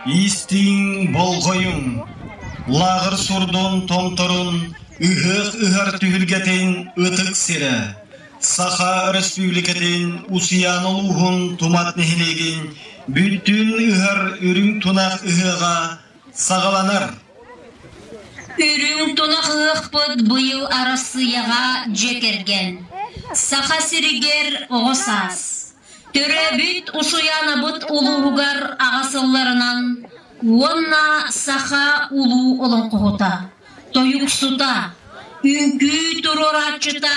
Истииҥ болҕойуҥ, лааҕыр сурдун томторун ыһыах ыһар түһүлгэтин ытык сирэ, Саха Өрөспүүбүлүкэтин Усуйаан улууһун Тумат нэһилиэгин бүттүүн ыһар үрүҥ тунах ыһыаҕа саҕаланар. Үрүҥ тунах ыһыахпыт быйыл Арассыыйаҕа дьиэ кэргэн, Саха сиригэр оҕо саас, төрөөбүт Усуйаанабыт улууһугар аҕа сылларынан уонна саха улуу олоҥхоһута, тойуксута, үҥкүү туруорааччыта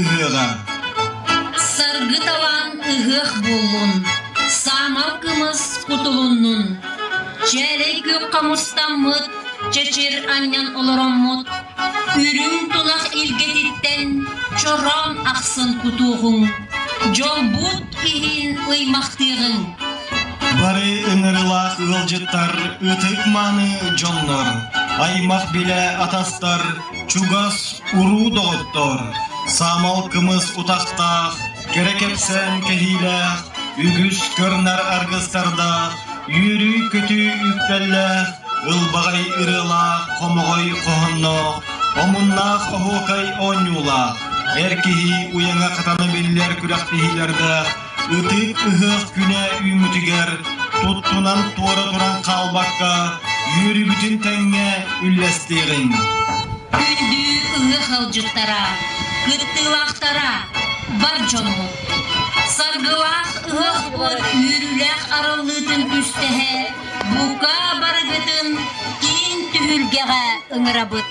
ыһыаҕа Саргы талаан ыһыах буоллун, саамал кымыс кутулуннун. Чээлэй күөххэ мустаммыт, чэчир анньан олороммут. Үрүҥ тунах илгэтиттэн чороон ахсын кутуоҕуҥ. Дьолбут иһин ыймахтыаҕыҥ. Бары ыҥырылаах ыалдьыттар ытык мааны дьоннор, аймах билэ атастар Чугас уруу доҕоттоор, саамал кымыс утахтаах, кэрэ кэпсээн кэһиилээх, үгүс кырнар аргыстардаах, үөрүү-көтүү үктэллээх, ылбаҕай ырыалаах, хомоҕой хоһоонноох, омуннаах оһуокай оонньуулаах, эр киһи уйаҥа хатана биллэр күрэхтэһиилэрдээх Ытыык ыһыах күнэ үүммүтүгэр туттунан туора туран хаалбакка үөрүүбүтүн тэҥҥэ үллэстиэҕиҥ. Үрдүү ыһыах ыалдьыттара, кыттыылаахтара, бар дьону! Саргылаах ыһыах уон үөрүүлээх арыллыытын түстэһэ бука барыгытын киин түһүлгэҕэ ыҥырабыт!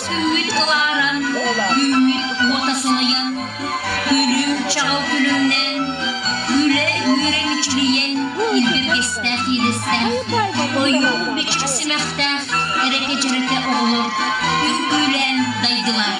Сүүрүн ылааран, үүммүт уота сылайан, күлүм чаҕыл күлүмнэн, күлэ үөрэҥчилийэн илгиргэстээх иилэстээх, ойуун бич симэхтээх эрэкэчэрэтэ оҕолор үҥкүүлээн дайдылар.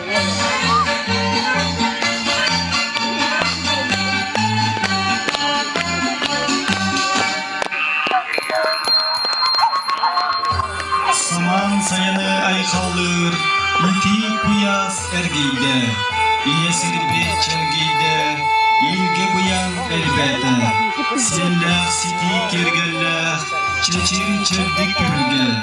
Самаан сайыны айхаллыыр итии куйаас эргийдэ, ийэ сирбит чэргийдэ, иилгэ быйаҥ элбээтэ. Сиэллээх ситии киэргэллээх чэчир чэбдик түһүлгэ.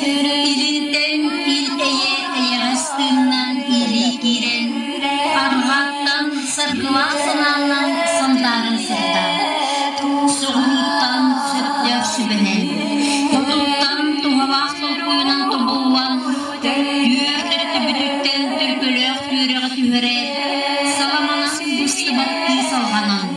Төрөйүтэн ил эйэ эйэҕэс тыыннаан илии киирэн, арҕааттан сырдыла санааллан Сунтаарын сырдаан, суруһууттан сөптөөх сүбэнэн, тутууттан туһалаах толкуйунан тобуллан, түөрт өттүбүтүттэн төлкөлөөх үөрэҕи түһэрээт, саламанан быстыбаттыы салҕанан,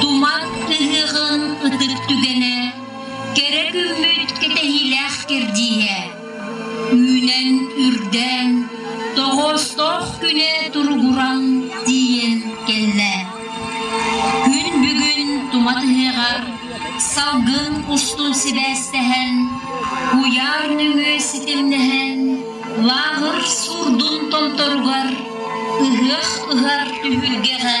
Тумат ыһыаҕын ытыр түгэнэ, кэрэ күммүт кэтэһиилээх кэрдииһэ. Үүнэн үрдээн, тоҕоостоох күнэ туругуран тиийэн кэллэ. Күн бүгүн тумат ыһыаҕар салгын устун сибээстэһэн, куйаар нөҥүө ситимнэһэн, лааҕыр суурдун томторугар, ыһыах ыһар түһүлгэҕэ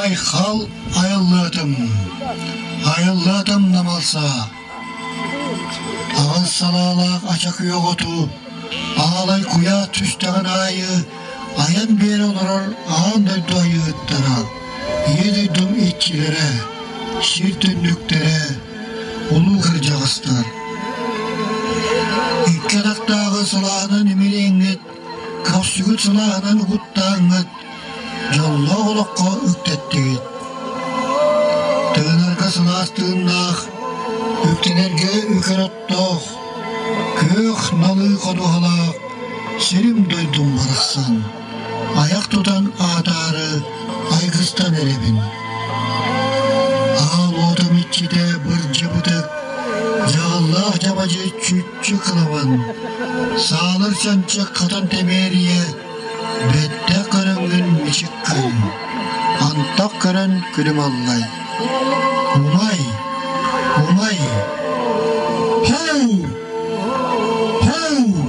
Айхал айыллыатым, айыллыатым намалса. Аҕал салаалаах ача күөх оту, аалай куйаа түстэҕин аайы Айан биэрэ олорор аан дойду айыыттара, Ийэ дойдум иччилэрэ, сир түннүктэрэ, улуу кырдьаҕастар. Икки атахтааҕы сылааһынан имилиэҥҥит, көхсүгүт сылааһынан угуттааҥҥыт, дьоллоох олоххо үктэттигит. Тыынарга сылаас тыыннаах, үктэнэргэ үкэрэ Тоох, күөх налыы ходуһала сирим-дойдум барахсан, айах тутан аатаары айгыстан эрэбин. Аал отом иччитэ бырдьыбытык, дьааллаах дьабадьы чүччү кылабан, саалар чанчык хатан тэмээрийэ Бүттэ хараҥын мичик күн, Антах көрөн күлүм аллай. Умай, умай, һэу, һэу!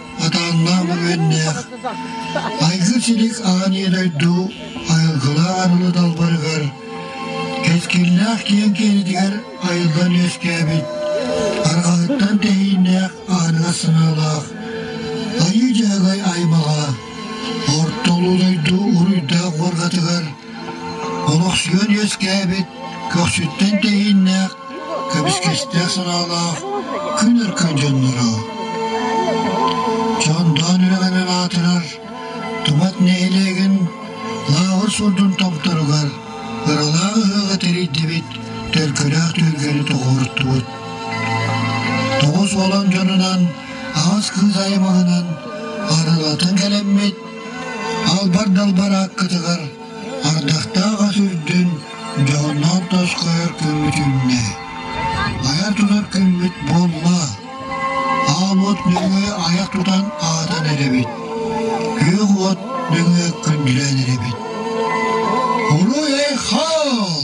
Атааннаах бөҕүөннээх, айгыр силик аан ийэ дойду айылгылаах арылы далбарыгар, кэскиллээх киэҥ киэнитигэр айыллан үөскээбит, арҕаһыттан тэһииннээх аанга сыҥыылаах айыы дьаагай аймаҕа, орто улуу дойду уруйдаах уоргатыгар олохсуйан үөскээбит көхсүттэн тэһииннээх Кэбискэстээх санаалаах күн аркан дьонноро Чондоон үрэҕинэн аатырар Тумат нэһилиэгин лааҕыр сурдун томторугар ыралаах ыһыаҕы тэрийдибит төлкөлөөх түөлгэни тоҕуоруттубут. Тоҕус уолан дьонунан аҕас кыыс аймаҕынан арылатын кэлэммит албар далбар ааккытыгар Ардахтаах ас үрдүн дьоҕурдаах тос хайар күммүт үүннэ, айа тутар күммүт буолла, ааммыт нөҥүө айах тутан аатан эрэбит, күөх уот нөҥүө күндүлээн эрэбит. Уруй-айхал!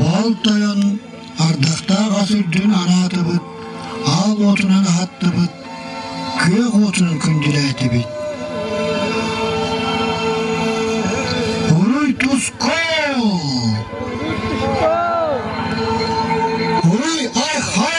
Бал тойон ардахтаах ас үрдүн анаатыбыт, аал уотунан аһаттыбыт, Күөх уотунан күндүлээтибит. Уруй Тускул! Уруй Айхал!